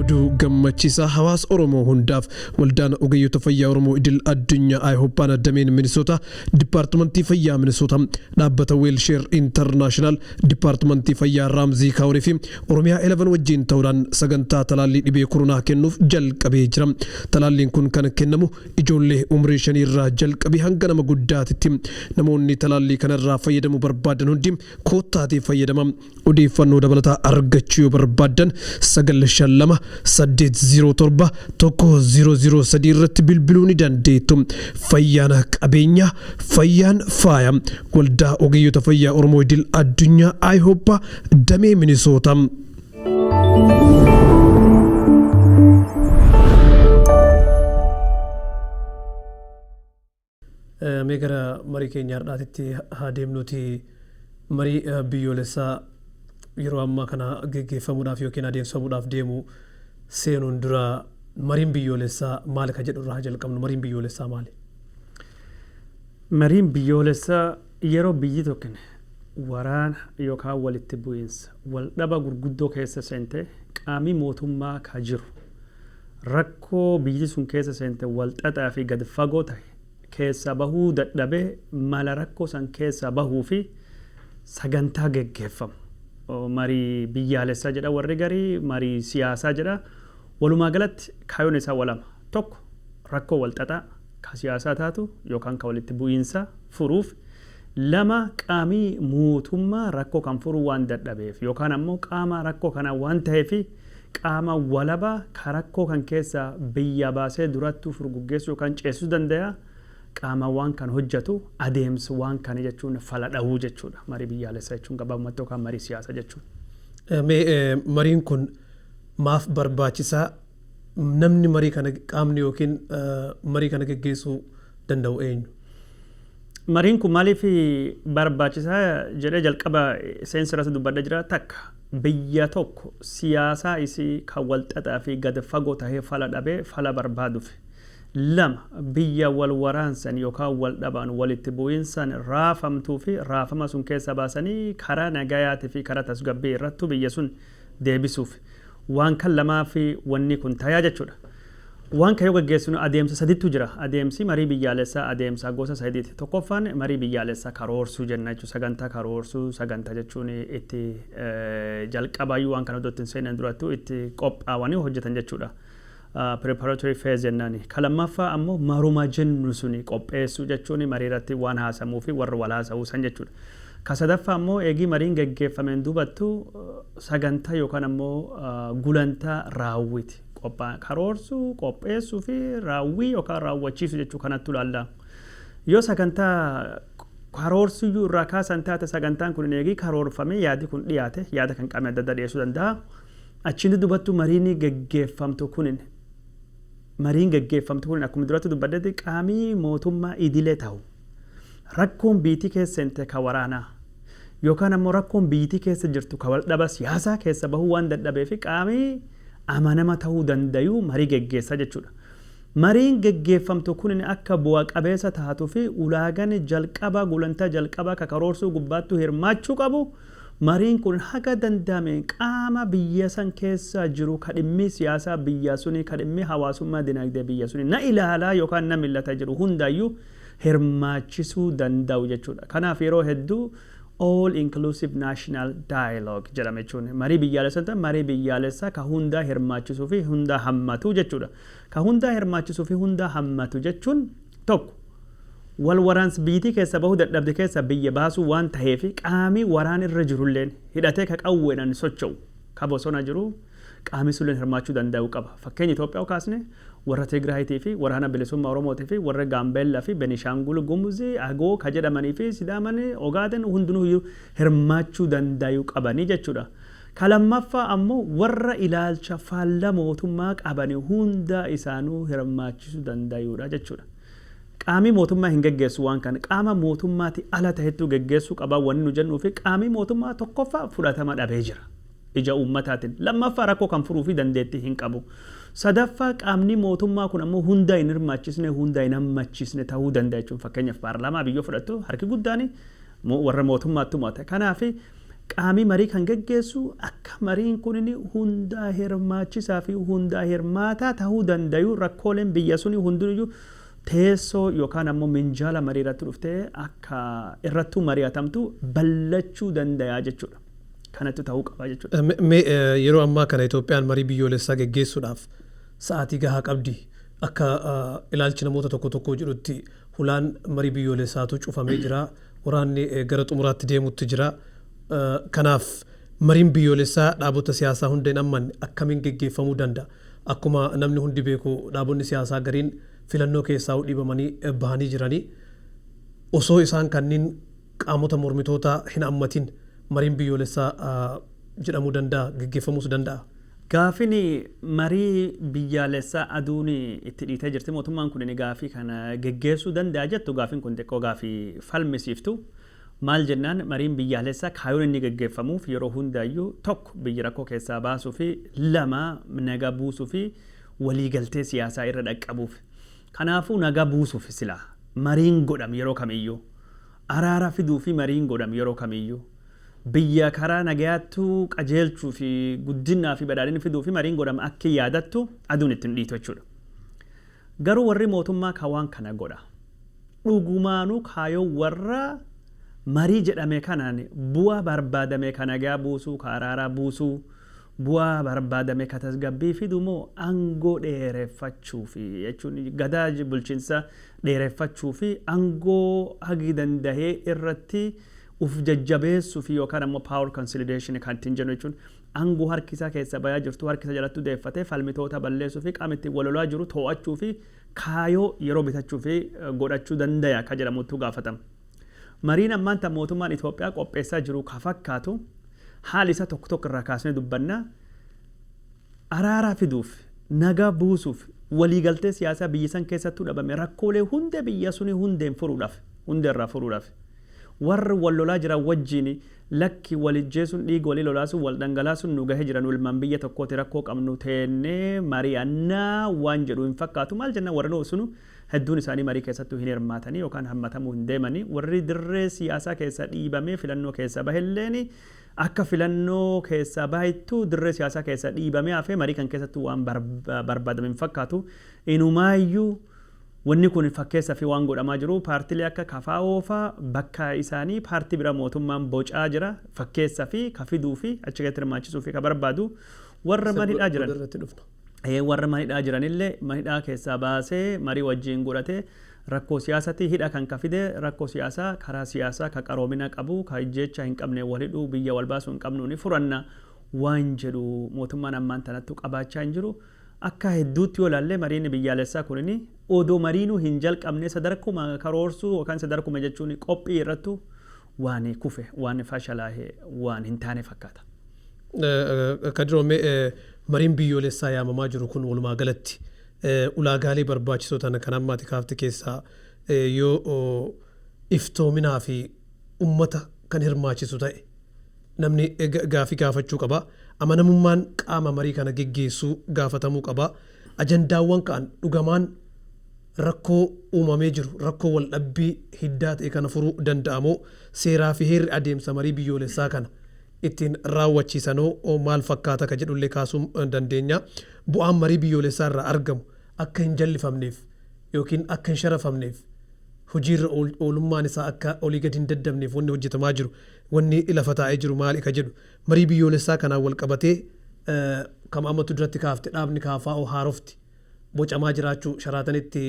oduu gammachiisaa hawaasa oromoo hundaaf waldaan ogeeyyota fayyaa oromoo idil addunyaa ayihooppaan addameen minisoota dipaartimantii fayyaa minisoota dhaabbata weelsheer intarnaashinaal dipaartimantii fayyaa raamzii kaawurii fi oromiyaa 11 wajjin ta'uudhaan sagantaa talaallii dhibee koronaa kennuuf jalqabee jira talaalliin kun kan kennamu ijoollee umrii shanii irraa jalqabee hanga nama guddaatitti namoonni talaallii kanarraa fayyadamuu barbaadan hundi Koottaatii fayyadamaa. Odeeffannoo dabalataa argachuu yoo barbaaddan 952 807 1003 irratti bilbiluu ni dandeettu. Fayyaan qabeenya, fayyaan faaya. Waldaa Ogeeyyota Fayyaa Oromoo Idil Addunyaa IHOPA Damee Minisootaa. Mee gara marii keenya har'aatitti haa deemnuuti. Marii biyyoolessaa yeroo ammaa kana geggeeffamuudhaaf yookiin adeemsifamuudhaaf deemu seenuun dura mariin biyyoolessaa maali ka jedhu irraa haa jalqabnu. Mariin biyyoolessaa maali? Mariin biyyoolessaa yeroo biyyi tokkin waraana yookaan walitti bu'iinsa, waldhaba gurguddoo keessa seente qaamii mootummaa ka jiru, Rakkoo biyyiti sun keessa seente wal xaxaa fi gad fagoo tahe keessaa bahuu dadhabee mala rakkoo san keessaa bahuu fi sagantaa geggeeffamu marii biyyaalessaa jedha warri garii marii siyaasaa jedha walumaa galatti kaayoon isaa wa lama tokko rakkoo wal xaxaa ka siyaasaa taatu yookaan ka walitti bu'iinsaa furuuf lama qaamii mootummaa rakkoo kan furuu waan dadhabeef yookaan ammoo qaamaa rakkoo kanaa waan taheefi Qaama walaba ka rakkoo kan keessaa biyyaa baasee durattuu furguggeessuu yookaan ceesisuu dandaya, qaama waan kan hojjatu, adeems waan kan jechuun fala dhawuu jechuu dha. Marii biyyaalessa jechuun gabaabumatti yookaan marii siyaasa jechuun. Mee mariin kun maaf barbaachisaa? Namni marii kana qaamni yookiin marii kana geggeessuu danda'u eenyu? Mariin kun maaliif barbaachisa jedhee jalqaba seensa irratti dubbadhe jira. Takka, biyya tokko siyaasaa isii kan walxaxaa fi gad fagoo tahee fala dhabee fala barbaadufi. Lama, biyya wal waraansan yookaan wal dhabaan walitti bu'iinsaan raafamtuu fi raafama sun keessaa baasanii karaa nagayaatii fi karaa tasgabbii irrattu biyya sun deebisuuf waan kan lamaafi wanni kun tayaa jechuudha. Waan kan yoo gaggeessinu adeemsa sadittu jira. Adeemsi marii biyyaalessaa adeemsa gosa sadiiti. Tokkoffaan marii biyyaalessaa karoorsuu jenna jechuudha. Sagantaa karoorsuu sagantaa jechuun itti jalqabaayyuu waan kana iddoo itti hin seenan durattuu itti qophaawanii hojjetan jechuudha. preparatory phase jennaani. Ka lammaffaa ammo maruma jennu suni qopheessuu jechuun marii irratti waan haasamuu fi warra wal haasa'uu san jechuu dha. Ka sadaffaa ammo eegii mariin geggeeffameen duubattu sagantaa yookaan ammo gulantaa raawwiti. Qophaa, karoorsuu, qopheessuu fi raawwii yookaan raawwachiisu jechuu kanattu ilaalla. Yoo sagantaa karoorsuyyuu irraa kaasan taate sagantaan kun eegii karoorfamee yaadi kun dhiyaate yaada kan qaamni adda addaa dhiyeessuu danda'a. Achiin dubattu mariini gaggeeffamtu kunin mariin gaggeeffamtu kunin akkuma durattu dubbadhetti qaamii mootummaa idilee tahu rakkoon biyytii keessa seente ka waraanaa yookaan ammoo rakkoon biyytii keessa jirtu ka waldhaba siyaasaa keessa bahuu waan dadhabeefi qaamii amanama tahuu dandayuu marii gaggeessa jechuudha. Mariin gaggeeffamtu kunin akka bu'a qabeessa taatufi ulaagani jalqaba gulantaa jalqabaa ka karoorsuu gubbaattu hirmaachuu qabu Mariin kun haga danda'ameen qaama biyya san keessaa jiru ka dhimmii siyaasaa biyyaa sunii, ka dhimmii hawaasummaa dinagdee biyya sunii na ilaalaa yookaan na millata jedhu hundaayyuu hirmaachisuu danda'u jechuu dha. Kanaaf yeroo hedduu All Inclusive National Dialogue jedhama jechuun marii biyyaalessa hin ta'in marii biyyaalessaa ka hundaa hirmaachisuu fi hundaa hammatu jechuu dha. Ka hundaa hirmaachisuu fi hundaa hammatu jechuun tokko. Wal waraans biyyitii keessaa bahuu dadhabde keessaa biyya baasuu waan taheefi qaamii waraan irra jirulleen hidhatee ka qawweedhan socho'u ka bosona jiru qaamii sulleen hirmaachuu dandayuu qaba. Fakkeenya Itoophiyaa yoo kaasne warra Tigraayitii fi waraana bilisummaa Oromootii fi warra Gaambeella fi Benishaangul Gumuz, Agoo ka jedhamanii fi Sidaaman, Ogaaden hundinuuyyuu hirmaachuu dandayuu qabanii jechuudha. Ka lammaffaa ammo warra ilaalcha faalla mootummaa qabani hundaa isaanuu hirmaachisuu dandayuudha jechuudha. Qaamii mootummaa hin geggeessu waan kana qaama mootummaatii ala tahettuu geggeessuu qaba wanni nu jennuufi qaamii mootummaa tokkoffaa fudhatama dhabee jira ija uummataatin lammaffaa rakkoo kan furuufi dandeettii hin qabu sadaffaa qaamnii mootummaa kun ammoo hundaa hin hirmaachisnee hundaa hin hammachiisne tahuu danda'a jechuun fakkeenyaf paarlaamaa biyyoo fudhattu harki guddaani warra mootummaatti mo'ata kanaafi Qaami marii kan geggeessu akka mariin kunin hundaa hirmaachisaa fi hundaa hirmaataa tahuu dandayu rakkooleen biyya suni hundinuyyuu teessoo yokaan ammoo minjaala marii irratti dhuftee akka irrattuu mari'atamtu ballachuu dandayaa jechuu dha. Kanattu tahuu qaba jechuu dha. Me, yeroo ammaa kana Itoophiyaan marii biyyoolessaa geggeessuudhaaf sa'aatii gahaa qabdii? Akka ilaalchi namoota tokko tokkoo jedhutti hulaan marii biyyoolessaatuu cufamee jiraa? Waraanni gara xumuraatti deemuutti jira. Kanaaf mariin biyyoolessaa dhaabota siyaasaa hunda hin ammanne akkamiin geggeeffamuu danda'a? Akkuma namni hundi beeku dhaabonni siyaasaa gariin filannoo keessaa'uu dhiibamanii bahanii jirani. Osoo isaan kanniin qaamota mormitootaa hin ammatin mariin biyyoolessaa jedhamuu danda'a? Geggeeffamuus danda'a? Gaaffiin marii biyyaalessaa aduun itti dhiitee jirti mootummaan kun gaaffii kana geggeessuu danda'a jettu gaaffiin kun xiqqoo gaaffii falmisiiftu. Maal jennaan mariin biyyaalessaa kaayoon inni geggeeffamuuf yeroo hundaayyuu tokko biyya rakkoo keessaa baasuufi lama nagaa buusuufi waliigaltee siyaasaa irra dhaqqabuuf. Kanaafuu nagaa buusuuf silaa mariin godham yeroo kamiyyuu. Araara fiduufi mariin godham yeroo kamiyyuu. Biyya karaa nagayaattu qajeelchuu fi guddinnaa fi badhaadhina fiduufi mariin godhama akki yaadattu aduun itti hin dhiitu jechuudha. Garuu warri mootummaa ka waan kana godha. Dhugumaanuu kaayoon warra marii jedhame kanaan bu'aa barbaadame ka nagaa buusuu, ka araaraa buusuu, bu'aa barbaadame ka tasgabbii fidu moo angoo dheereffachuufi jechuun gadaa bulchinsa dheereffachuufi angoo hagi dandahee irratti Uf jajjabeessufi yookaan ammoo power consolidation kan ittiin jennu jechuun angoo harki isaa keessaa bayaa jirtuu harki isa jalattuu deeffatee falmitoota balleessuufi qaama ittiin wal lolaa jiru too'achuufi kaayoo yeroo bitachuufi godhachuu dandaya ka jedhamuttuu gaafatama. Mariin ammaan tan mootummaan Itoophiyaa qopheessaa jiru ka fakkaatu haali isaa tokko tokko irraa kaasnee dubbanna. Araara fiduuf, nagaa buusuuf, walii galtee siyaasaa biyya san keessattuu dhabame rakkoolee hunda biyya sunii hundeen furuudhaaf, hundeerraa furuudhaaf. Warr wal lolaa jiran wajjiin lakki wal ijjeesun dhiiga walii lolaasun wal dhangalaasun nu gahe jira nu ilmaan biyya tokkooti rakkoo qabnu teenne mari'anna waan jedhu hin fakkaatu maal jennan warrinu usunu hedduun isaanii marii keessattu hin hirmaatani yookaan hammatamu hin deemani warri dirree siyaasaa keessaa dhiibamee filannoo keessaa bahe illeen akka filannoo keessaa baheettu dirree siyaasaa keessaa dhiibamee hafee marii kan keessattu waan barbaadame hin fakkaatu inumaayyuu Wanni kun fakkeessafi waan godhamaa jiru paartilee akka kfo faa bakka isaanii paartii bira mootummaan bocaa jira fakkeessafi ka fiduufi achi keessatti hirmaachisuufi ka barbaadu warra mana hidhaa jiran ee warra mana hidhaa jiranille mana hidhaa keessaa baasee marii wajjiin godhatee rakkoo siyaasati hidha kan ka fide rakkoo siyaasaa karaa siyaasaa ka qaroomina qabu ka ijjeechaa hin qabneen wal hidhuu biyya wal baasuu hin qabnuuni furanna waan jedhu mootummaan ammaan tanattu qabaachaa hin jiru. Akka hedduutti yoo ilaalle mariin biyyaalessaa kunini odoo mariinuu hin jalqabne sadarkuma karoorsuu yookaan sadarkuma jechuun qophii irrattu waan kufe, waan fashalaahe waan hin taane fakkaata. Kadiroo mee mariin biyyoolessaa yaamamaa jiru kun walumaa galatti ulaagaalee barbaachisoo ta'an kan amma ati kaafte keessaa yoo iftoominaa fi ummata kan hirmaachisu ta'e Namni gaaffii gaafachuu qaba. Amanamummaan qaama marii kana geggeessuu gaafatamuu qaba. Ajandaawwan ka'an dhugamaan rakkoo uumamee jiru, rakkoo waldhabbii hiddaa ta'e kana furuu danda'a moo? Seeraa fi heerri adeemsa marii biyyoolessaa kana ittiin raawwachiisan hoo maal fakkaata ka jedhullee kaasuu dandeenya. Bu'aan marii biyyoolessaa irraa argamu akka hin jallifamneef ykn akka hin sharafamneef, hojiirra oolummaan isaa akka olii gadi hin daddabneef wanni hojjetamaa jiru Wanni lafa taa'ee jiru maali ka jedhu. Marii biyyoolessaa kanaan wal qabatee ka Maammattu duratti kaafte dhaabni KFO haarofti bocamaa jiraachuu Sharaatanitti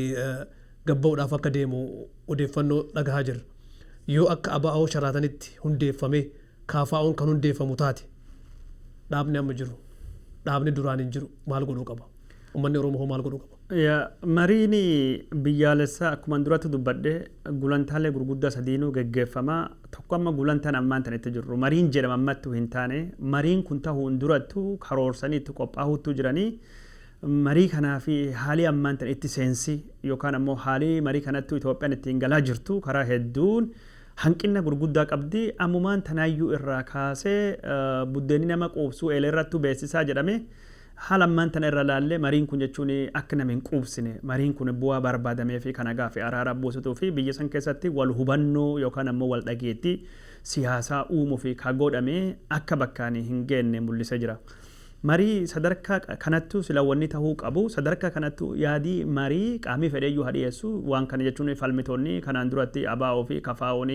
gabba'uudhaaf akka deemu odeeffannoo dhagahaa jirra. Yoo akka abo-wbo Sharaatanitti hundeeffamee KFOn kan hundeeffamu taate dhaabni amma jiru, dhaabni duraan hin jiru maal godhuu qaba? Ummanni Oromoo hoo maal godhuu qaba? Ya, Mariin biyyaalessaa akkuman duratti dubbadhe gulantaalee gurguddaa sadiinuu geggeeffama. Tokko amma gulantaan ammaan tana itti jirru mariin jedhama ammattuu hin taane. Mariin kun tahuun durattu karoorsanii itti qophaahuuttuu jirani. Marii kanaaf haalii ammaan tana itti seensi yookaan ammoo haalii marii kanattuu Itoophiyaan ittiin galaa jirtu karaa hedduun hanqinna gurguddaa qabdi. Ammumaan tanaayyuu irraa kaasee buddeenni nama quubsuu eeleerrattuu beessisaa jedhamee Haala ammaan tana irra laallee mariin kun jechuun akka nama hin quubsine, mariin kun bu'aa barbaadamee fi ka nagaa fi araaraa buusutuu fi biyya san keessatti wal hubannoo yookaan ammoo wal dhageettii siyaasaa uumuuf ka godhame akka bakkaan hin geenne mullisee jira. Marii sadarkaa kanattuu sila wanni tahuu qabu, sadarkaa kanattuu yaadii marii qaamii fedheeyyuu haa dhiyeessu, waan kana jechuun falmitoonni kanaan duratti ABO fi KFOn,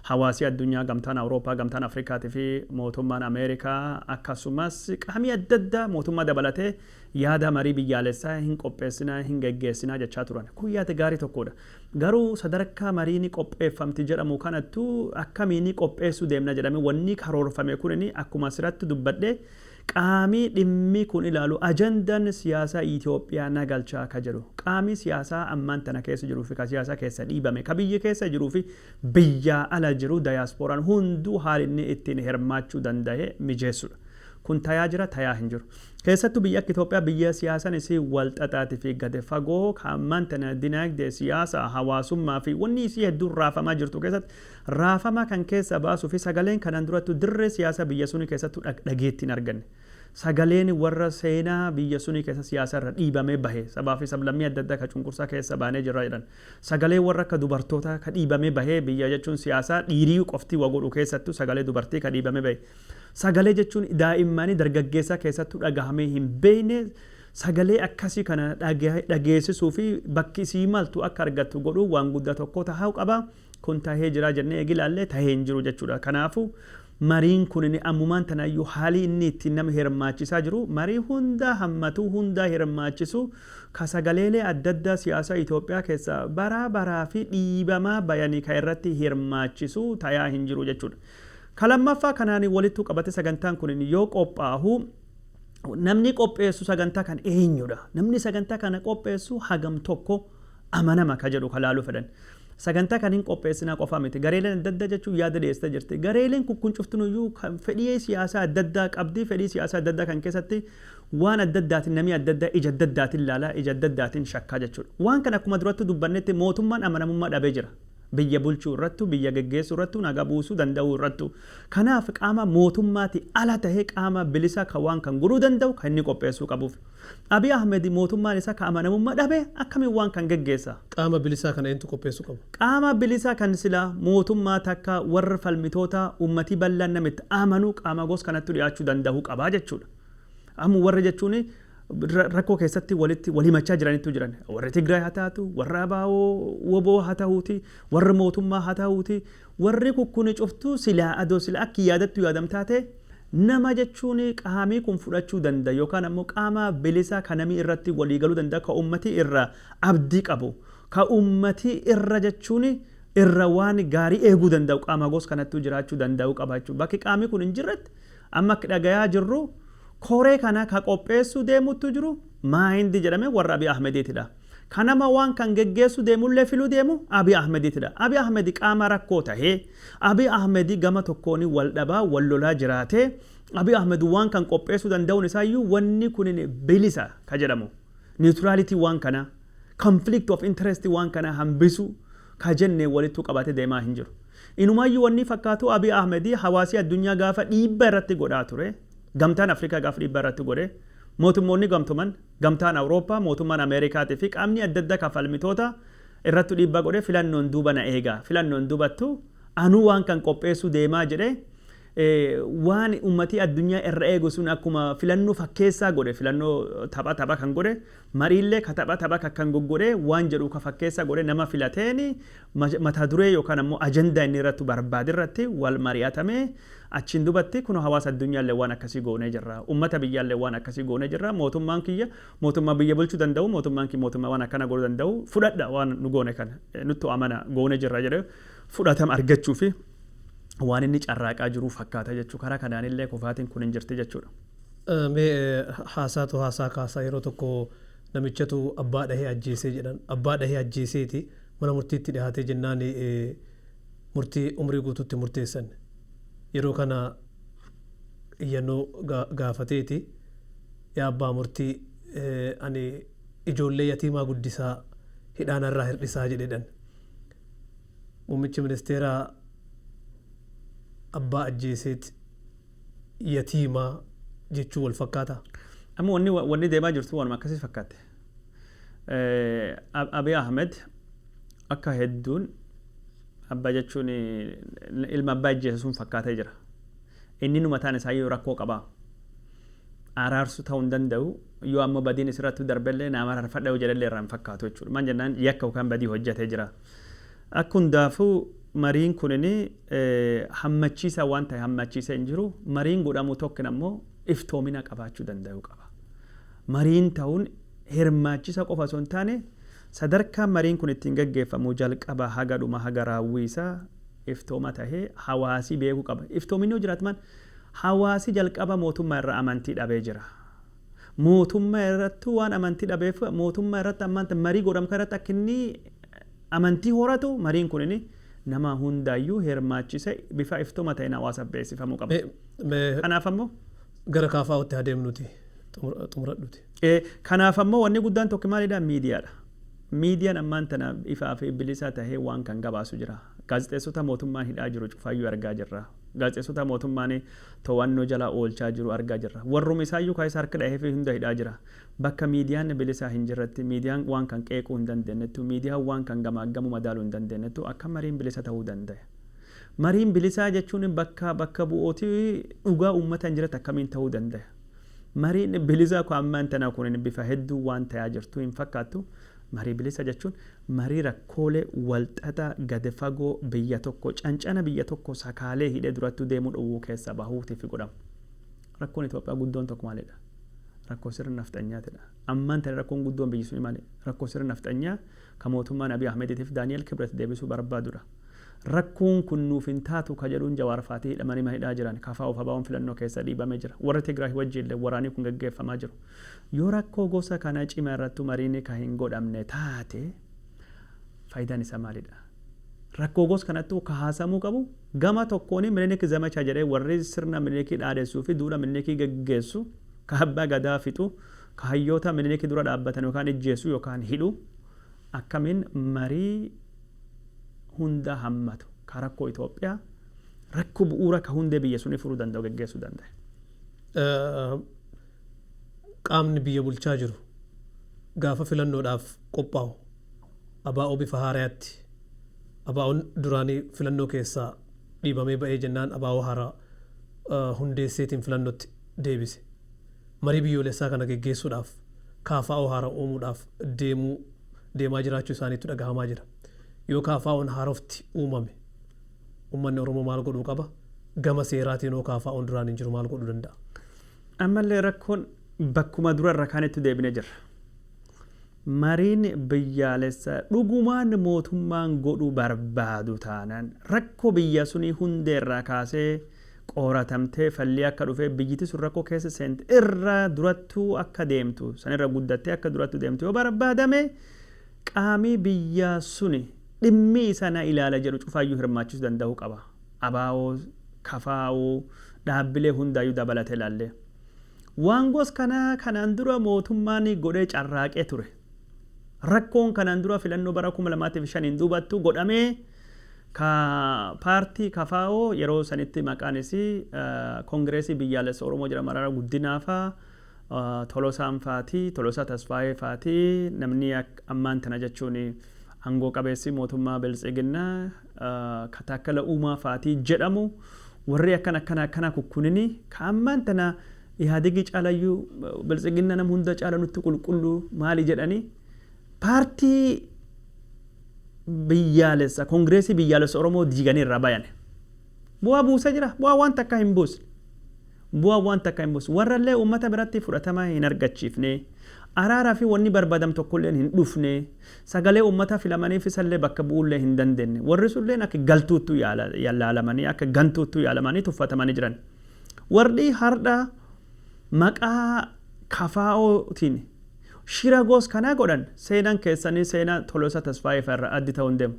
Hawaasi addunyaa, Gamtaan Awurooppaa, Gamtaan Afrikaatii fi Mootummaan Ameerikaa akkasumas qaamii adda addaa mootummaa dabalatee yaada marii biyyaalessaa hin qopheessinaa, hin geggeessinaa jechaa turan. Kun yaada gaarii tokkoodha. Garuu sadarkaa marii ni qopheeffamti jedhamu kanattuu akkamiinii qopheessuu deemna jedhamee wannii karoorfame kunini akkuma asiratti dubbadhe Qaamii dhimmii kun ilaalu ajandan siyaasaa Itoophiyaa na galchaa ka jedhu qaamii siyaasaa ammaan tana keessa jiru fi ka siyaasaa keessa dhiibame ka biyya keessa jiru fi biyyaa ala jiru dayaasporaan hunduu haal inni ittiin hirmaachuu dandahe mijeessudha. Kun tayaa jira tayaa hin jiru. Keessattu biyyi akka Itoophiyaa biyya siyaasan isii wal xaxaati fi gad fagoo ka ammaan tana dinaagdee, siyaasaa, hawaasummaa fi wannii isii hedduun raafamaa jirtu keessatti Raafama kan keessaa baasuu fi sagaleen kanan durattu dirree siyaasa biyya suni keessattu dhageetti hin arganne. Sagaleen warra seenaa biyya suni keessa siyaasa irra dhiibamee bahe, sabaa fi sablammii adda addaa ka cunqursaa keessa baanee jirra jedhan. Sagalee warra akka dubartootaa ka dhiibamee bahee biyya jechuun siyaasaa dhiirii qofti wa godhu keessattu sagalee dubartii ka dhiibamee bahe. Sagalee jechuun daa'immaanii dargaggeessaa keessattu dhagahamee hin beekne sagalee akkasii kana dhageesisuu fi bakki isii maltu akka argattu godhuu waan guddaa tokkoo tahaau qaba. Kun tahee jira jennee eega ilaalle tahee hin jiru jechuu dha. Kanaafu, mariin kunini ammumaan tana iyyuu haalii inni ittiin nama hirmaachisaa jiru marii hunda hammatuu, hundaa hirmaachisu, ka sagaleelee adda addaa siyaasa Itoophiyaa keessaa baraa baraa fi dhiibamaa bayani ka irratti hirmaachisu tayaa hin jiru jechuu dha. Ka lammaffaa kanaani walittu qabate sagantaan kunini yoo qophaahu namni qopheessu sagantaa kana eenyu dha? Namni sagantaa kana qopheessu hagam tokko? amanama ka jedhu ka laaluu fedhan. Sagantaa kan hin qopheessinaa qofaa miti. Gareeleen adda addaa jechuun yaada dhiyeessitee jirti. Gareeleen kun kun cuftinuyyuu kan fedhii siyaasaa adda addaa qabdi. Fedhii siyaasaa adda addaa kan keessatti waan adda addaatiin namii adda addaa ija adda addaatiin laala, ija adda addaatiin shakkaa jechuudha. Waan kana akkuma durattu dubbannetti mootummaan amanamummaa dhabee jira. Biyya bulchuu irrattu, biyya geggeessuu irrattu, nagaa buusuu danda'uu irrattu. Kanaaf qaama mootummaatii ala tahee qaama bilisa ka waan kan guruu danda'u ka inni qopheessuu qabuuf. Abiy Ahmed mootummaan isa ka amanamumma dhabe akkamiin waan kan geggeessa? Qaama bilisaa kana eentu qopheessu qaba? Qaama bilisa kan sila mootummaa takka warr falmitoota ummati ballan nama itti amanu qaama gos kanattu dhiyaachu dandahu qaba jechuudha. Amma warra jechuun rakkoo keessatti walitti wal himachaa jiranittu jiran. Warri Tigraay ha taatu, warra ABO, wbo ha tahuuti, warri mootummaa ha tahuuti, warri kukkuni cuftu silaa adoo sila akki yaadattu yaadamtaa ta'e Nama jechuun qaamii kun fudhachuu danda yookaan ammoo qaama bilisa ka namii irratti walii galuu danda ka ummatii irra abdii qabu ka ummatii irra jechuun irra waan gaarii eeguu danda'u qaama gos kanattuu jiraachuu danda'uu qaba jechuudha. Bakki qaamii kun hin jirretti amma akki dhagayaa jirru koree kana ka qopheessuu deemuuttuu jiru Maayindi jedhame warra Abiy Ahmediitidha. Ka nama waan kan geggeessuu deemullee filuu deemu Abiy Ahmediitidha. Abiy Ahmed qaama rakkoo tahee Abiy Ahmed gama tokkoon wal dhabaa, wal lolaa jiraatee, Abiy Ahmed waan kan qopheessuu danda'uun isaa iyyuu wanni kunin bilisa ka jedhamu, neutrality waan kanaa, conflict of interest waan kanaa hambisuu ka jenne walittuu qabatee deemaa hin jiru. Inumaa iyyuu wannii fakkaatuu Abiy Ahmed hawaasii addunyaa gaafa dhiibba irratti godhaa ture, Gamtaan Afrikaa gaafa dhiibbaa irratti godhe, Mootummoonni Gamtoman, Gamtaan Awurooppaa, mootummaan Ameerikaatii fi qaamni adda addaa kan falmitoota irrattu dhiibbaa godhee filannoon duuba na eega, filannoon dubattu anuu waan kan qopheessuu deemaa jedhe waan ummatii addunyaa irra eegu sun akkuma filannoo fakkeessaa godhe, filannoo tapha tapha kan godhe, mariillee ka tapha tapha ka kan goggodhee waan jedhu ka fakkeessaa godhe nama filateeni mata duree yookaan ammoo ajandaa inni irrattu barbaade irratti wal mari'atamee achiin dubatti kunoo hawaasa addunyaallee waan akkasii goonee jirra, ummata biyyaallee waan akkasii goonee jirra, mootummaan kiyya mootummaa biyya bulchu danda'u, mootummaan kiyya mootummaa waan akkana goonu danda'u fudhadha waan nu goone kana nuttu amana goone jirra jedhee fudhatama argachuufi waan inni carraaqaa jiruu fakkaata jechuu karaa kanaanillee kufaatiin kun hin jirti jechuudha. Mee haasaatu haasaa kaasa yeroo tokko namichatu abbaa dhahee ajjeesee jedhan abbaa dhahee ajjeeseeti Mana murtiitti dhihaatee jennaan murtii umrii guutuu itti murteessan. Yeroo kana iyyannoo gaafateeti, Yaa abbaa murtii, ani ijoollee yatiimaa guddisaa, hidhaa narraa hir'isaa jedheedhan. Muummichi ministeeraa abbaa ajjeeseet yatiimaa jechuun wal fakkaataa? Amma wanni deemaa jirtu waanuma akkasii fakkaatti. Abiy Ahmed akka hedduun abbaa jechuun ilma abbaa ajjeese sun fakkaatee jira. Inni nu mataan isaayyuu rakkoo qaba. Araarsu ta'uu hin danda'u. Yoo ammoo badiin isirratti darbellee naa mararfadha yoo jedhellee irraa hin fakkaatu jechuudha. Maal jennaan yakka yookaan badii hojjatee jira. Akka hundaafuu mariin kunin hammachiisaa waan ta'e hammachiisee hin jiru. Mariin godhamu tokkin ammoo iftoomina qabaachuu danda'uu qaba. Mariin ta'uun hirmaachisa qofa osoo hin taane sadarkaan mariin kun ittiin gaggeeffamu jalqabaa haga dhumaa haga raawwii isaa iftooma tahee hawaasi beekuu qaba. Iftoominni yoo jiraatman hawaasi jalqaba mootumma irra amantii dhabee jira. Mootumma irrattu waan amantii dhabeef mootumma irratti ammanta marii godhamu kana irratti akka inni amantii horatu mariin kunini nama hundaayyuu hirmaachise bifa iftooma taheen hawaasaf beeksifamuu qaba. Kanaaf ammoo. Gara KFOtti haa deemnuti. xumuradhuti. Kanaaf ammoo wanni guddaan tokki maalidha? Miidiyaadha. Miidiyaan ammaan tana ifaa fi bilisaa tahee waan kan gabaasu jira. Gaazexeessota mootummaan hidhaa jiru cufaayyuu argaa jirra. Gaazexeessota mootummaan too'annoo jala oolchaa jiru argaa jirra. Warruma isaayyuu ka isa harki dhaheefii hunda hidhaa jira. Bakka miidiyaan bilisaa hin jirretti, miidiyaan waan kan qeequu hin dandeennettu, miidiyaan waan kan gamaaggamuu madaaluu hin dandeennettu akkam mariin bilisa tahuu dandaya? Mariin bilisaa jechuun bakka bakka bu'ooti dhugaa uummataan jiretti akkamiin tahuu dandaya? Mariin bilisaa kun ammaan tanaa kunin bifa hedduu waan tayaa jirtuu hin fakkaattu. Marii bilisa jechuun marii rakkoolee walxaxaa gad fagoo biyya tokko cancana biyya tokko sakaalee hidhee durattuu deemuu dhowwuu keessaa bahuutiif godhamu. Rakkoon Itoophiyaa guddoon tokko maalidha? Rakkoo sirna nafxanyaatidha. Ammaan tana rakkoon guddoon biyyi suni maali? Rakkoo sirna nafxanyaa ka mootummaan Abiy Ahmeditiif Daani'el Kibret deebisuu barbaadudha. Rakkoon kun nuuf hin taatu ka jedhuun Jawaar faatii hidhamanii mana hidhaa jiran. KFO fi ABOn filannoo keessa dhiibame jira. Warri Tigraayi wajjiinle waraanii kun geggeeffamaa jiru. Yoo rakkoo gosa kana cima irrattu mariini ka hin godhamne taate faayidaan isaa maalidha? Rakkoo gos kanattu ka haasamuu qabu gama tokkooni Minilik Zamacha jedhee warri sirna Minilikii dhaadessuu fi duula Minilikii geggeessu ka Abbaa Gadaa fixu, ka hayyoota Miniliki dura dhaabbatan yookaan ijjeessu yookaan hidhu akkamiin marii hunda hammatu ka rakkoo Itoophiyaa rakkoo bu'uura ka hundee biyya sunii furuu danda'u geggeessuu dandaya. Qaamni biyya bulchaa jiru gaafa filannoodhaaf qophaa'u ABO bifa haarayaatti ABOn duraanii filannoo keessaa dhiibamee ba'ee jennaan ABO haaraa hundeesseetiin filannotti deebise. Marii biyyoolessaa kana geggeessuudhaaf KFO haara uumuudhaaf deemuu deemaa jiraachuu isaaniitu dhagahamaa jira. Yoo KFOn haarofti uumame ummanni Oromoo maal godhuu qaba? Gama seeraatiin hoo KFOn duraan hin jiru maal godhuu danda'a? Ammallee rakkoon bakkuma dura irra kaanitti deebinee jirra. Mariin biyyaalessaa dhugumaan mootummaan godhuu barbaadu taanaan rakkoo biyya sunii hundee irraa kaasee qooratamtee fallii akka dhufee biyyiti sun rakkoo keessa seente irra durattu akka deemtu san irra guddattee akka durattu deemtu yoo barbaadame qaamii biyya suni dhimmi isa na ilaala jedhu cufaayyuu hirmaachisu dandahu qaba. Abaawoo, KFO, dhaabbilee hundaayyuu dabalate laallee. Waan gos kanaa kanaan dura mootummaan godhee carraaqee ture. Rakkoon kanaan dura filannoo bara 2005n duubattu godhamee ka paartii kfo yeroo sanitti maqaan isii Kongireesii Biyyaalessa Oromoo jedhamu Mararaa Guddinaa faa, Tolosaan faati, Tolosaa Tasfaayee faati namni ammaan tana jechuun angoo qabeessii mootummaa Biltsiginnaa ka Taakkala Uumaa faati jedhamu warrii akkana akkana akkanaa kukkunini ka ammaan tana Ihaadigi caalayyu biltsiginna nam hunda caala nutti qulqullu maali jedhani paartii biyyaalessa kongreesii biyyaalessa oromoo diiganii irraa bayane. Bu'aa buuse jira? Bu'aa waan takka hin buusne. Bu'aa waan takka hin buusne. Warra illee ummata biratti fudhatama hin argachiifne. Araara fi wanni barbadam tokko illeen hin dhufne. Sagalee ummata filamaniif isa illee bakka bu'uu illee hin dandenne. Warri sun illeen akka galtuuttu laalamanii akka gantuuttu yaalamanii tuffatamanii jiran. Warri hardha maqaa kfo tiin shira gos kanaa godhan seenan keessani seena Tolosa Tasfaye fa irra addi ta'u hin demu.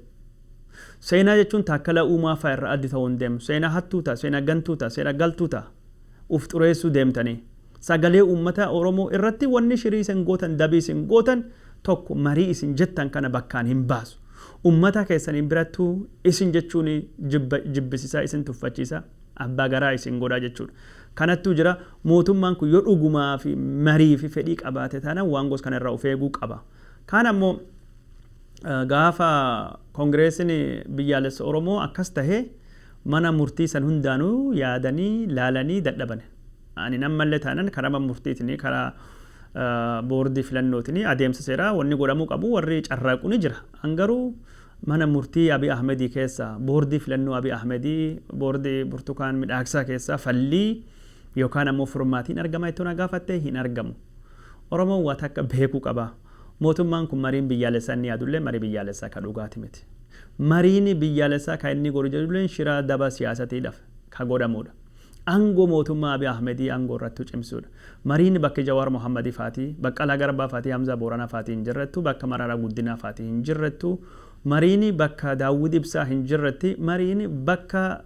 Seena jechuun Taakkala Uumaa fa irra addi ta'u hin demu. Seena hattuu ta, seena gantuu ta, seena galtuu ta uf xureessuu deemtani. Sagalee uummata Oromoo irratti wanni shirii isin gootan dabii isin gootan tokko marii isin jettan kana bakkaan hin baasu. Uummata keessani birattuu isin jechuun jibba jibbisisaa isin tuffachiisaa. abbaa garaa isin godha jechuudha. Kanattuu jira, mootummaan kun yoo dhugumaa fi marii fi fedhii qabaate taanaan waan gosa kana irraa of eeguu qaba. Kaan ammoo gaafa Kongireesiin Biyyaalessa Oromoo akkas tahe mana murtii san hundaanuu yaadanii, laalanii dadhabane. Ani ammallee taanaan karaa mana murtiitiin, karaa boordii filannootiin adeemsa seeraa wanni godhamuu qabu warri carraaqu ni jira. An garuu Mana murtii Abiy Ahmedii keessaa, boordii filannoo Abiy Ahmedii, boordii Burtukaan Midhaagsaa keessaa fallii yookaan ammoo furmaati hin argamaa jettoo na gaafatte hin argamu. Oromoon waa takka beekuu qaba. Mootummaan kun mariin biyyaalessaa inni yaadulleen marii biyyaalessaa ka dhugaati miti. Mariin biyyaalessaa ka inni godhu jedhulleen shira daba siyaasatiidhaf ka godhamuudha. Angoo mootummaa Abiy Ahmedii angoo irrattu cimsuudha. Mariin bakki Jawar Mohammed faati, Baqqala Garba fati Hamza Borana faati hin jirrettu, bakka Marara Guddina faati hin jirrettu, Mariin bakka Dawud Ibsa hin jirretti, Mariin bakka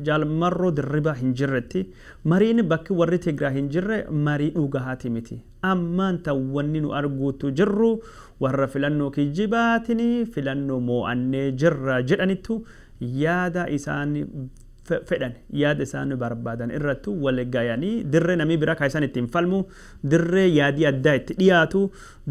Jaal Marro Dirriba hin jirretti, Mariin bakki warri Tigra hin jirre Marii dhugaati miti. Ammaan tan wanni nu arguuttu jirru warra filannoo kijjibaatin filannoo moo'annee jirra jedhanittu yaada isaan fedhan, yaada isaan barbaadan irrattu wali gayanii dirree namii biraa kan isaan ittiin falmu, dirree yaadii addaa itti dhiyaatu,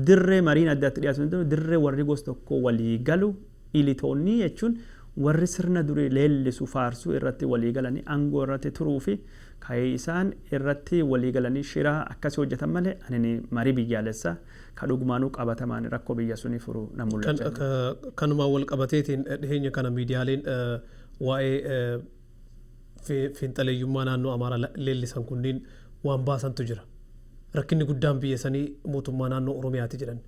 dirree mariin addaa itti dhiyaatu danda'u, dirree warri gos tokkoo walii galu, ilitoonnii jechuun warri sirna durii leellisu, faarsu irratti walii galanii angoo irratti turuu fi kan isaan irratti walii galanii shira akkasi hojjatan malee anini marii biyyaalessa kan dhugumaanuu qabatamaan rakkoo biyya suni furu na Kan, mul'achaa hin jiru. ka- kanumaan wal qabateetiin dhiheenya kana miidiyaaleen eh, Waa'ee fiinxaleeyyummaa naannoo Amaaraa leellisan kunniin waan baasantu jira. Rakkinni guddaan biyya sanii mootummaa naannoo Oromiyaati jedhan.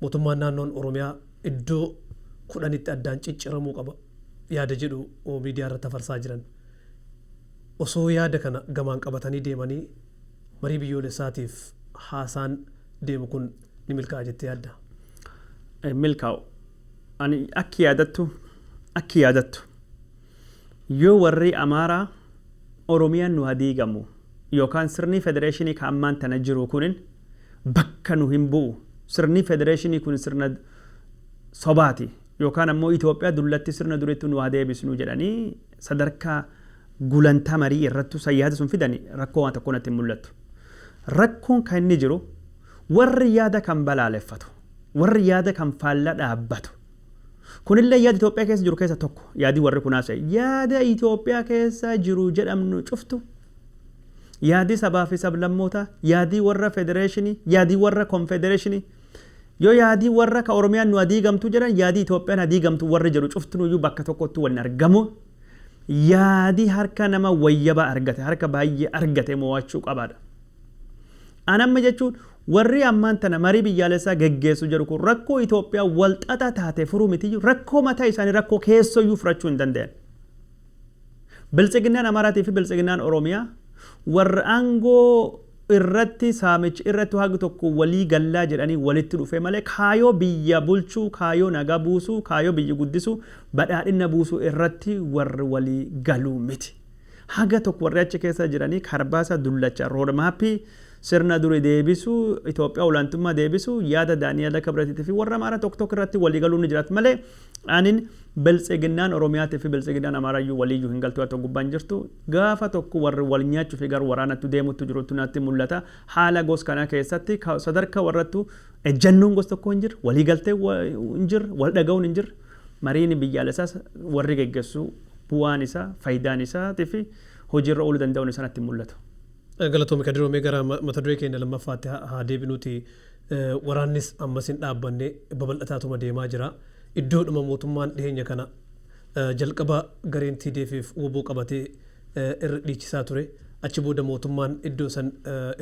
Mootummaan naannoon Oromiyaa iddoo 10tti addaan cicciramuu qaba yaada jedhu miidiyaa irratti hafarsaa jiran. Osoo yaada kana gamaan qabatanii deemanii marii biyyoolessaatiif haasaan deemu kun ni milkaa'a jettee yaadda? Hin milkaa'u. Ani akki yaadattu akki yaadattu yoo warrii Amaaraa Oromiyaan nu ha diigamu yookaan sirnii federeeshinii ka ammaan tana jiruu kunin bakka nu hin bu'u sirnii federeeshinii kun sirna sobaati yookaan ammoo Itoophiyaa dullatti sirna durittu nu ha deebisnu jedhanii sadarkaa gulantaa marii irrattu san yaada sun fidani rakkoo waan tokkoo natti hin mul'attu. Rakkoon ka inni jiru warri yaada kan balaaleffatu. Warri yaada kan faalla dhaabbatu. Kunillee yaada Itoophiyaa keessa jiru keessa tokko. Yaadi warri kun haasa'e yaada Itoophiyaa keessa jiru jedhamnu cuftu, yaadi sabaa fi sablammootaa, yaadi warra federeeshinii, yaadi warra konfedereeshinii, yoo yaadi warra ka Oromiyaan nu adiigamtu jedhan yaadi Itoophiyaan hadiigamtu warri jedhu cuftinuyyuu bakka tokkotti wal hin argamu. Yaadi harka nama wayyabaa argate, harka baay'ee argate moo'achuu qabaadha. An amma jechuun warrii ammaan tana marii biyyaalessaa geggeessu jedhu kun rakkoo Itoophiyaa wal xaxaa taate furuu mitiyyuu rakkoo mataa isaanii rakkoo keessooyyuu furachuu hin dandayan. Biltsiginnaan Amaaraatii fi Biltsiginnaan Oromiyaa warra aangoo irratti saamich irrattu hagi tokko walii gallaa jedhanii walitti dhufee malee kaayoo biyya bulchuu, kaayoo nagaa buusuu, kaayoo biyyi guddisuu, badhaadhinna buusuu irratti warri walii galuu miti. Haga tokko warri achi keessa jiranii karbaasa dullacha, road map, sirna duri deebisuu, Itoophiyaa olaantummaa deebisuu, yaada Daani'ela Kibratiitii fi warra Amaara tokko tokko irratti walii galuun ni jiraat malee anin Biltsiginnaan Oromiyaatii fi Biltsiginnaan Amaaraa iyyuu walii iyyuu hin galtuu haa ta'u gubbaa hin jirtu. Gaafa tokko warri wal nyaachuu fi gara waraanattu deemuttu jirutu natti mul'ata. Haala gos kanaa keessatti ka sadarka warrattu Ejjannoon gos tokkoo hin jirre, walii galtee hin jirre, wal dhaga'uun hin jirre, mariin biyyaalessaas warri geggessu bu'aan isaa, fayidaan isaatii fi hojii irra ooluu danda'uun isaa natti hin mul'atu. Galatoomi Kadiroo mee gara mata duree keenya lammaffaatti haa deebinuuti waraannis ammas hin dhaabbanne babal'ataatuma deemaa jira. Iddoodhuma mootummaan dhiheenya kana jalqaba gareen TDF fi wbo qabatee irra dhiichisaa ture achi booda mootummaan iddoo san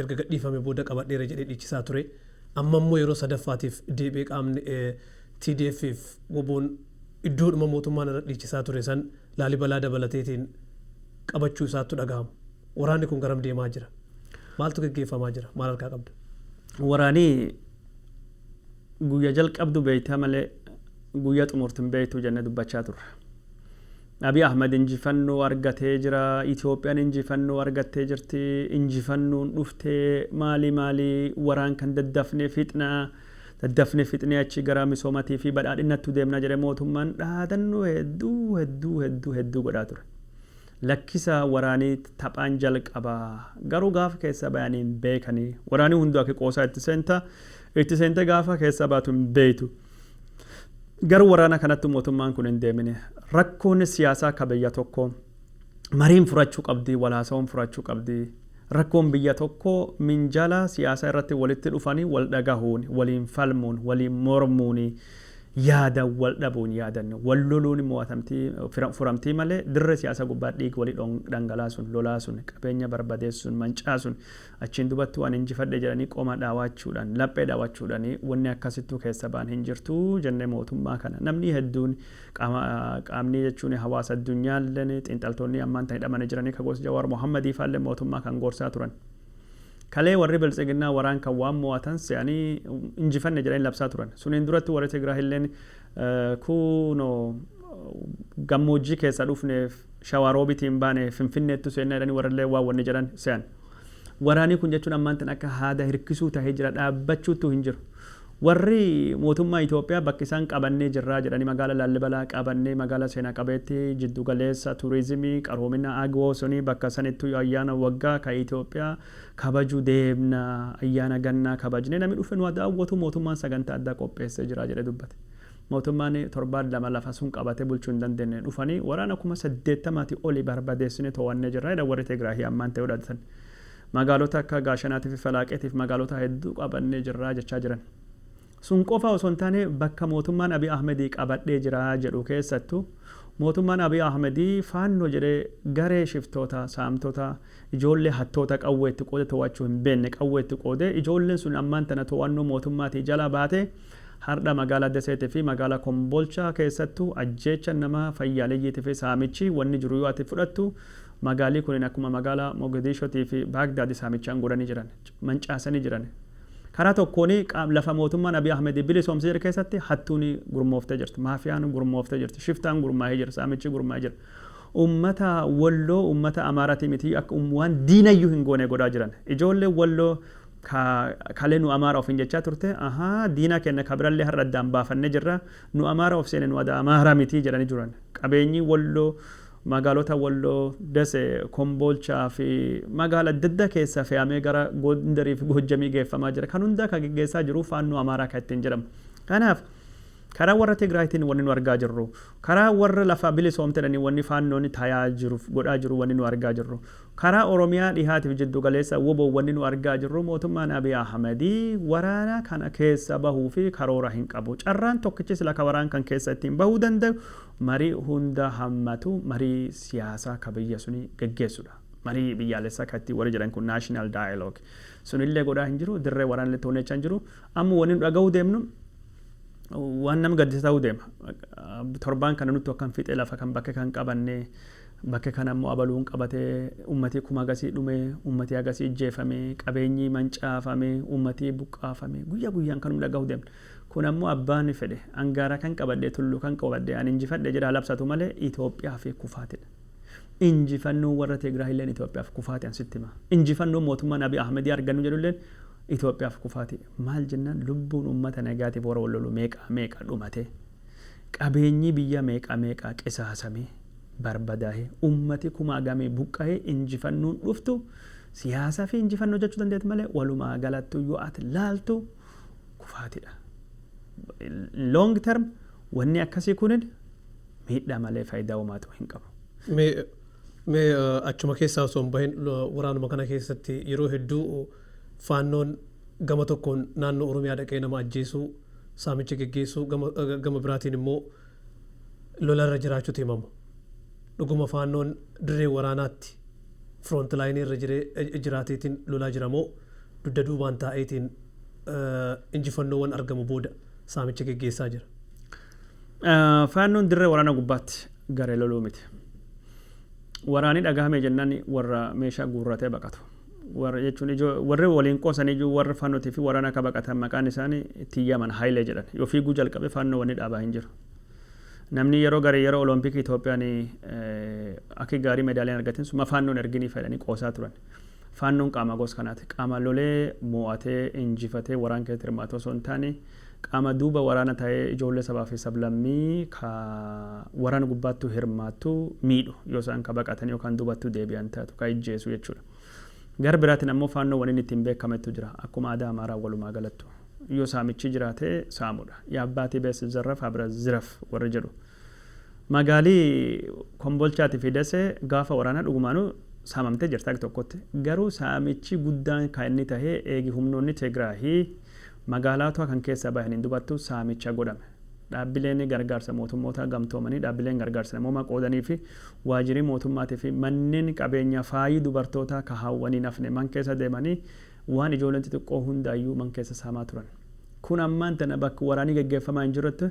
erga gadhiifame booda qabadheera jedhee dhiichisaa ture. Amma immoo yeroo sadaffaatiif deebi'ee qaamni TDF fi WBOn iddoodhuma mootummaan irra dhiichisaa ture san Laalibalaa dabalateetiin qabachuu isaattu dhagahama. Waraanni kun garam deemaa jira? Maaltu geggeeffamaa jira? Maal harkaa qabda? Waraani guyya jalqabdu beeyta malee guyya xumurtu hin beeytu jenne dubbachaa turre. Abiy Ahmed injifannoo argatee jira, Ethiopian injifannoo argattee jirti, injifannoon dhufte, maali maali waraan kan daddafne fixna, daddafne fixnee achi gara misoomatii fi badhaadhinnattu deemna jedhe mootummaan dhaadannoo hedduu hedduu hedduu hedduu godhaa ture. Lakkisa waraani taphaan jalqaba garuu gaafa keessa bayani hin beekani. Waraani hundu ake qoosaa itti seenta, itti seente gaafa keessa baatu hin beeytu. Gara waraana kanatti mootummaan kun hin deemine. Rakkoon siyaasaa ka biyya tokkoo mariin furachuu qabdi, wal haasawuun furachuu qabdi. Rakkoon biyya tokkoo minjaala siyaasaa irratti walitti dhufanii wal dhagahuun, waliin falmuun, waliin mormuun, yaada wal dhabuun, yaadan wal loluun mo'atamtii, furamtii malee dirree siyaasaa gubbaa dhiiga walii dhangalaasuun, lolaa sun, qabeenya barbadeessuun, mancaasuun Achiin dubattuu ani injifadhe jedhanii qoma dhaawachuudhan, laphee dhaawachuudhani wanni akkasittuu keessa ba'an hin jirtu jennee mootummaa kana namnii hedduun qaama qaamnii jechuun hawaasa addunyaallen xiinxaltoonnii ammaan tan hidhamani jiranii ka gos Jawaar Mohammadii faallen mootummaa kan gorsaa turan. Kalee warri Biltsiginnaa waraan kan waan moo'atan se'anii injifanne jedhanii labsaa turan. Suniin durattuu warri Tigraahilleen kuunoo gammoojjii keessaa dhufneef Shawaa Roobitiin baane Finfinneettu seennaa jedhanii warrilleen waan wanni jedhan se'an. Waraanii kun jechuun ammaan tana akka haada hirkisuu tahee jira dhaabbachuuttuu hin jiru. Warri mootummaa Itoophiyaa bakka isaan qabannee jirraa jedhanii magaala Laallibalaa qabannee magaala seenaa qabeettii jiddu galeessa turizimii qaroomina Agwoo suni bakka sanittuyyu ayyaana waggaa ka Itoophiyaa kabaju deemna ayyaana gannaa kabajnee nami dhufe nu ha daawwatu mootummaan sagantaa addaa qopheessee jira jedhee dubbate. Mootummaan torbaan lama lafa sun qabatee bulchuu hin dandeenye dhufanii waraana kuma saddeettamaatii oli barbadeessinee to'annee jirra jedhan warri Tigraayi ammaan ta'e odhadatan. Magaalota akka Gaashanaatiifi Falaaqeetiif magaalota hedduu qabannee jirra jechaa jiran. Sun qofa osoo hin taane bakka mootummaan Abiy Ahmedii qabadhee jira jedhu keessattu mootummaan Abiy Ahmedii Faannoo jedhee garee shiftoota, saamtota, ijoollee hattoota qawwee itti qoode to'achuu hin beekne qawwee itti qoodee ijoolleen sun ammaan tana to'annoo mootummaatii jala baatee Hardha Magaalaa Deseeti fi Magaalaa Kombolchaa keessattu ajjeechan nama fayyaaleyyiti fi saamichi wanni jiru yoo ati fudhattu magaalii kunin akkuma magaalaa Mogediishoti fi Baagdaadi saamichaan godhani jiran. Mancaasani jiran. Karaa tokkooni qaam lafa mootummaan Abiy Ahmedi bilisoomse jedhe keessatti hattuuni gurmooftee jirti. Maafiyaan gurmooftee jirti. Shiftaan gurmaahee jira. Saamichi gurmaahee jira. Ummata Wolloo ummata Amaarati miti akka waan diinayyu hin goone godhaa jiran. Ijoolleen Wolloo ka kale nu Amaara ofiin jechaa turte, ahaa, diina keenna ka birallee har'a addaan baafannee jirra, nu Amaara of seene nu ada Amaara miti jedhanii turan. Qabeenyi Wolloo, magaalota Wolloo, Dese, Komboolchaa fi magaala adda addaa keessaa fe'amee gara Gondarii fi Goojjamii geeffamaa jira. Kan hundaa ka geggeessaa jiru Faannoo Amaaraa ka ittiin jedhamu. Kanaaf. Karaa warra Tigraayitiin wanni nu argaa jirru, karaa warra lafa bilisoomte jedhanii wanni Faannoon tayaa jiru, godhaa jiru wanni nu argaa jirru, karaa Oromiyaa dhihaati fi jiddu galeessa wbo wanni nu argaa jirru mootummaan Abiy Ahmed waraana kana keessa bahuu fi karoora hin qabu. Carraan tokkichi sila ka waraan kan keessa ittiin bahuu dandayu marii hunda hammatu marii siyaasaa ka biyya suni geggeessu dha. Marii biyyaalessaa ka ittiin warri jedhan kun national dialogue sunillee godhaa hin jiru, dirree waraanalleetti wanni jechaa hin jiru. Amma wanni nu dhagahuu deemnu. waan nama gaddisa ta'uu deema. Torbaan kana nutti akkan fiixee lafa kan bakke kan qabanne bakke kana immoo abaluun qabate ummatii kuma agasii dhume ummatii agasii ijjeefame qabeenyii mancaafame ummatii buqqaafame guyyaa guyyaan kanum dhaga'uu deemna. Kun ammoo abbaan fedhe angaara kan qabadhe tulluu kan qabadhe an injifadhe jedha labsatu malee Itoophiyaa fi kufaatidha. Injifannoon warra Tigraay illeen Itoophiyaaf kufaati an sitti hima. Injifannoon mootummaan Abiy Ahmedii argannu jedhu illeen Itoophiyaaf kufaati. Maal jennaan lubbuun uummata nagaatiif warra wal lolu meeqaa meeqa dhumatee, qabeenyii biyyaa meeqaa meeqaa qisaasamee, barbadaahee, uummati kumaa gamii buqqahee injifannoon dhuftu siyaasafi injifannoo jechuu dandeeti malee walumaa galattuu yoo ati laaltu kufaatidha. In long term wanni akkasii kunin miidhaa malee fayidaa homaatu hin qabu. Mee mee achuma keessaa osoo hin bahin waraanuma kana keessatti yeroo hedduu Faannoon gama tokkoon naannoo Oromiyaa dhaqee nama ajjeesuu, saamicha geggeessuu gama gama biraatiin immoo lolarra jiraachuutu himama. Dhuguma Faannoon dirree waraanaatti front line irra jiree jiraateetiin lolaa jira moo dudda duubaan taa'eetiin injifannoowwan argamu booda saamicha geggeessaa jira? Faannoon dirree waraanaa gubbaatti garee loluu miti. Waraanii dhagahame jennaan warra meeshaa guurratee baqatu. Warra jechuun ijoo warri waliin qoosan iyyuu warri fanoti fi warana ka baqatan maqaan isaani ittiin yaman Haile jedhan. Yoo fiiguu jalqabe fanno wani dhaabaa hin jiru. Namni yeroo garii yeroo olompiki Ethiopian aki gaarii medaaliya hin argatin sun ma fanno hin ergini fa jedhani qoosaa turan. Fannon qaama gos kanaati. Qaama lolee moo'atee injifatee waraan keessatti hirmaatu osoo hin taane Qaama duuba waraana taee ijoollee sabaa fi sablammii ka waraana gubbaattuu hirmaattu miidhu, yoo isaan ka baqatanii yookaan duubattuu deebian taatu ka ijjeesu jechuu dha. Gara biraatiin ammoo Faannoon wanni inni ittiin beekamettu jira. Akkuma aadaa Amaaraa walumaa galattu. Yoo saamichii jiraate saamu dha. Yaabbaatii beet sitizarraf abra ziraf warri jedhu. Magaalii Kombolchaatii fi Dasee gaafa waraanaa dhugumaanuu saamamtee jirti hag tokkotti. Garuu saamichii guddaan ka inni tahe eegi humnoonni Tegraahi Magaalaatua kan keessaa bahe hin dubattu saamicha godhame. Dhaabbileeni gargaarsa mootummoota gamtoomanii, dhaabbileen gargaarsa namoomaa qoodanii fi waajirii mootummaatii fi manneen qabeenya faayii dubartootaa ka haawwanii hin hafne man keessa deemanii waan ijooleen xixiqqoo hundaayyuu man keessa saamaa turan. Kun ammaan tana bakk waraanii geggeeffamaa hin jirretti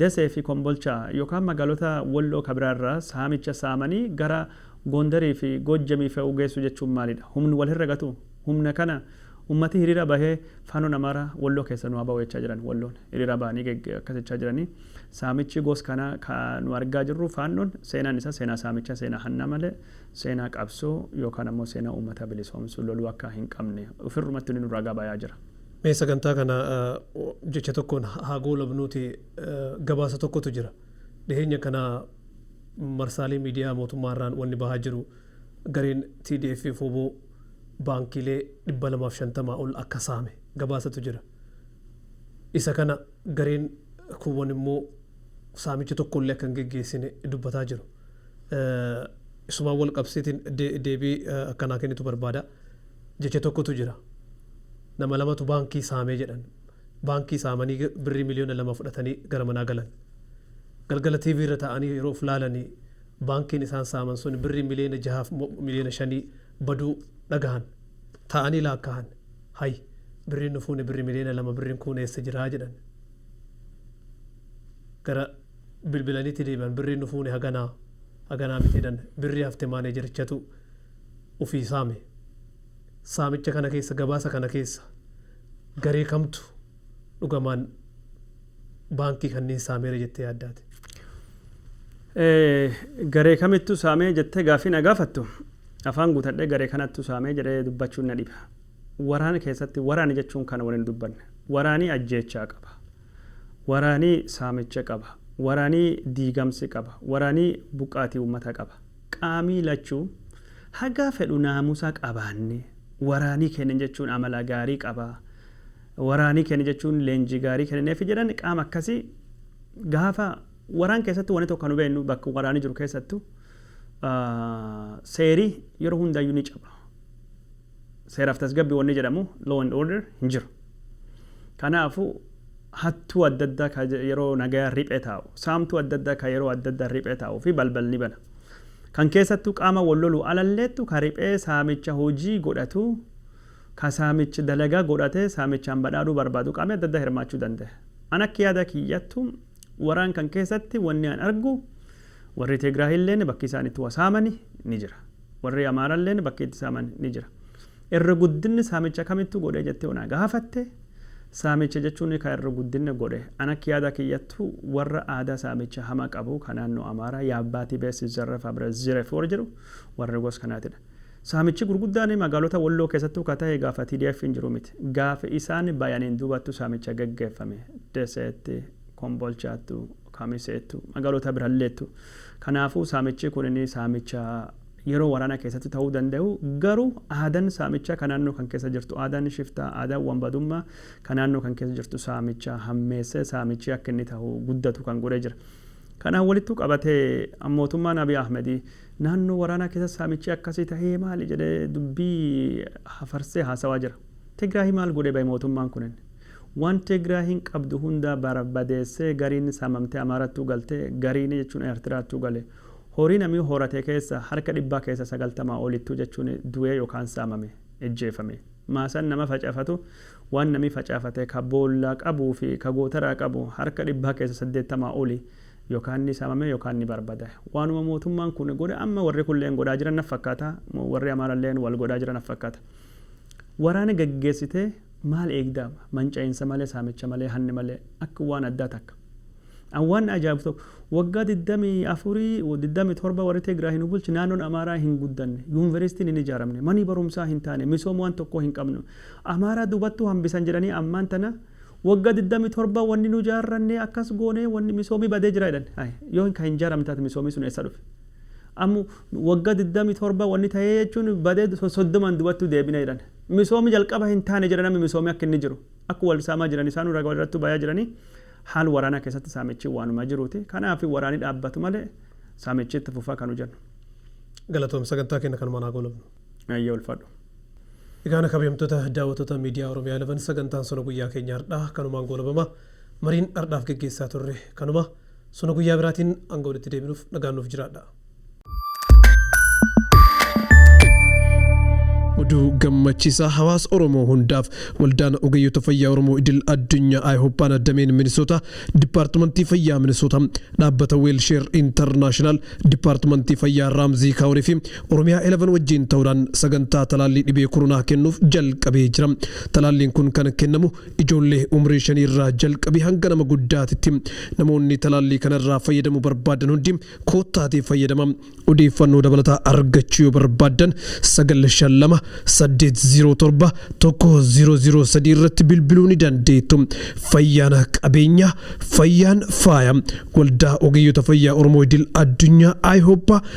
Desee fi Kombolchaa yokaan magaalota Wolloo ka biraa irraa saamicha saamanii gara Gondarii fi Gojjamii fe'uu geessu jechuun maalidha? Humn wal hin ragatuu? Humna kana ummati hiriira bahee Faannoon Amaaraa Walloo keessa nu haa bahu jechaa jiran. Walloon hiriira bahanii akkas jechaa jirani. Saamichi gos kanaa ka nu argaa jirru Faannoon seenaan isaa seenaa saamichaa, seenaa hannaa malee seenaa qabsoo yookaan ammoo seenaa ummata bilisoomsu loluu akka hin qabne ufirrumatti inni nu ragaa bayaa jira. Mee sagantaa kana jecha tokkoon haa goolabnuuti gabaasa tokkotu jira. Dhiheenya kana marsaalee miidiyaa mootummaa irraan wanni bahaa jiru, Gareen TDF fi wbo baankiilee 250 ol akka saame gabaasatu jira. Isa kana gareen kuuwwan immoo saamicha tokko illee akka hin geggeessine dubbataa jiru. Isumaan wal qabsiitiin deebii akka naa kennitu barbaada. Jecha tokkotu jira. Nama lamatu baankii saame jedhan. Baankii saamanii birrii miliyoona lama fudhatanii gara manaa galan. Galgala TV irra taa'anii yeroo of laalanii Baankiin isaan saaman sun birrii miliyoona jahaaf mo miliyoona shanii baduu dhagahan. Taa'anii laakkahan. Hay! Birriin nu fuune birri miliyoona lama birriin kuun eessa jira? jedhan. Gara bilbilaniitti deebi'an birriin nu fuune haganaa, haganaa miti jedhan. Birrii hafte maaneejerichatu ufii saame. Saamicha kana keessa, gabaasa kana keessa garee kamtu. dhugamaan baankii kanniin saameera jettee yaadda ati? Garee kamittu saamee jettee gaaffii na gaafattu? Afaan guutadhee garee kanattu saamee jedhee dubbachuun na dhiba. Waraana keessatti waraani jechuun kana wal hin dubbanne. Waraanii ajjeechaa qaba. Waraanii saamicha qaba. Waraanii diigamsi qaba. Waraanii buqqaatii uummata qaba. Qaamii lachuu haga fedhu naamusa qabaannee waraanii keenna jechuun amala gaarii qaba. Waraanii kene jechuun leenjii gaarii kenineefi jedhan qaama akkasi gaafa waraan keessatti wani tokko nu beennu bakka waraani jiru keessattu seeri yeroo hundayyu ni caba seeraf tasgabbi wanni jedhamu law and order hin jiru kanaafu hattuu adda addaa ka yeroo nagaya riphee taa'u saamtuu adda addaa ka yeroo adda addaa riphee taa'u fi balbal ni bana kan keessattu qaama wal lolu alalleettu ka riphee saamicha hojii godhatu ka saamich dalaga godhate saamichaan badhaadhuu barbaadu qaamii adda addaa hirmaachuu dandahe. An akki yaada kiyyattu waraan kan keessatti wanni an argu warrii Teegraahiilleen bakki isaan itti wa saamani ni jira. Warrii Amaaralleen bakki itti saaman ni jira. Irri guddinni saamicha kamittu godhee jettee yoo na gaafatte saamicha jechuun ka irri guddinni godhe an akki yaada kiyyattu warra aadaa saamicha hama qabu ka naannoo Amaaraa Yaabbaa Tibee Sizzarref Abret Ziref warri jedhu warri gos kanaatidha. Saamichi gurguddaan magaalota Walloo keessattuu ka tahe gaafa TDFn jiru miti. Gaafa isaan bayaniin duubattu saamicha geggeeffame. Deseetti, Kombolchaattu, Kamiseettu, magaalota biralleettu. Kanaafuu saamichi kunini saamicha yeroo waraana keessatti tahuu dandayu. Garuu aadan saamicha ka naannoo kan keessa jirtu, aadan shiftaa, aadan wanbadumma ka naannoo kan keessa jirtu saamicha hammeessee saamichi akka inni tahu guddatu kan godhee jira. Kanaan walittu qabatee mootummaan Abiy Ahmedii Naannoo waraanaa keessa saamichi akkasii tahee maali jedhee dubbii hafarsee haasawaa jira. Tigraayi maal godhee bahe mootummaan kunin? Waan Tigraayiin qabdu hundaa barbadeessee gariin saamamtee Amaarattuu galtee gariin jechuun Eertiraattuu gale. Horii namii horate keessaa harka dhibbaa keessaa 90 olittuu jechuun du'ee yookaan saamame, ijjeefame. Maasaan nama facafatu waan namii facaafate ka boollaa qabuu fi ka gootaraa qabu harka dhibbaa keessaa 80 oli Yokaan ni saamame yokaan ni barbada. Waanuma mootummaan kun godhe amma warri kunleen godhaa jiran naf fakkaata. Warri Amaaralleen wal godhaa jira naf fakkaata. Waraana gaggeessitee maal eegda? Manca'iinsa malee, saamicha malee, hanni malee akka waan addaa takka. An waan na ajaa'ibu tokko waggaa 24, 27 warri Tigraayi nu bulche naannoon Amaaraa hin guddanne. Yuunveristiin hin ijaaramne. Manii barumsaa hin taane. Misooma waan tokkoo hin qabnu. Amaaraa dubattuu hambisan jedhanii ammaan tana Wagga 27 wanni nu jaarranne akkas goone wanni misoomi badee jira jedhan. Hay yoo hin ka hin jaaramne taate misoomi sun eessa dhufe? Ammo wagga 27 wanni tahee jechuun badee so 30n dubattu deebine jedhan. Misoomi jalqaba hin taane jedha nami misoomi akka inni jiru. Akku wal saamaa jiran isaanu raga walirrattu bayaa jirani. Haal waraana keessatti saamichi waanuma jiruuti. Kanaafi waraani dhaabbatu malee saamichi itti fufa kanu jennu. Galatoomi sagantaa keenna kanumaan haa goolabnu. Hayyee ulfaadhu. Egaan kabajamtoota daawwatoota miidiyaa Oromiyaa 11 sagantaan sona guyyaa keenya hardhaa kanumaan goolabama. Mariin hardhaaf geggeessaa turre kanuma. Sona guyyaa biraatiin hanga walitti deebinuuf nagaan nuuf jiraadhaa. Oduu gammachiisaa hawaasa Oromoo hundaaf waldaan ogeeyyota fayyaa Oromoo idil addunyaa Ayihooppaan dameen Minisoota Dipaartimantii Fayyaa Minisoota dhaabbata Weelsheer Intarnaashinaal Dipaartimantii Fayyaa Raamzii Kaawurii fi Oromiyaa 11 wajjiin ta'uudhaan sagantaa talaallii dhibee koronaa kennuuf jalqabee jira. Talaalliin kun kan kennamu ijoollee umrii shanii irraa jalqabee hanga nama guddaatitti. Namoonni talaallii kana irraa fayyadamuu barbaadan hundi koottaatii fayyadama. Odeeffannoo dabalataa argachuu yoo barbaaddan 952 807 1003 irratti bilbiluu ni dandeettu. Fayyaan qabeenya, fayyaan faaya. Waldaa Ogeeyyota Fayyaa Oromoo Idil Addunyaa, IHOPA,